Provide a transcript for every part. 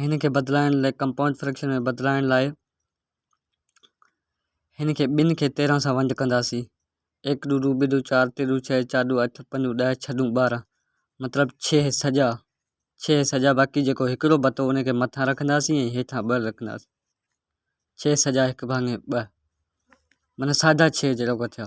هن کي بدلائڻ لاء ڪمپائونڊ فريڪشن ۾ بدلائڻ لاء هن کي ٻن کي تيرهن سان ونڊ ڪنداسين، ايڪ ڏو ڏو ٻه ڏو چار ٽي ڏو ڇهه چار ڏو اٺ پنج ڏو ڏهه ڇهه ڏون ٻارهن مطلب ڇهه سڄا ڇهه سڄا باقي جيڪو هڪڙو بتو ان کي مٿان رکنداسين ۽ هيٺان ٻه رکنداسين ڇهه سڄا هڪ ڀاڱي ٻه مانا ساڍا ڇهه جهڙوڪا ٿيا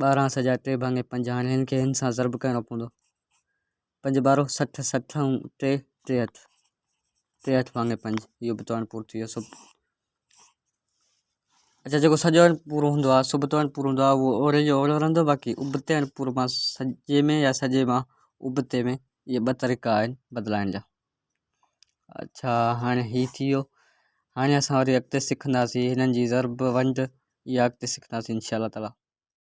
ٻارهن سجا ٽي ڀاڱي پنج هاڻي هن کي هن سان ضرب ڪرڻو پوندو پنج ٻارهو سٺ سٺ ۽ ٽي ٽيهٺ ٽيهٺ ڀاڱي پنج اهو به توڻ پورو ٿي ويو سو اچا جيڪو سڄو هڻ پورو هوندو آهي سڀ توڻ پورو هوندو آهي اهو اوري جو اورو رهندو باقي ابتي هڻ پورو مان سڄي ۾ يا سڄي مان ابتي ۾ اهي ٻه طريقا آهن بدلائڻ جا اڇا هاڻي هي ٿي ويو هاڻي اسان وري اڳتي سکنداسين هنن جي ضرب ونڊ يا اڳتي سکنداسين انشاء الله تعالٰي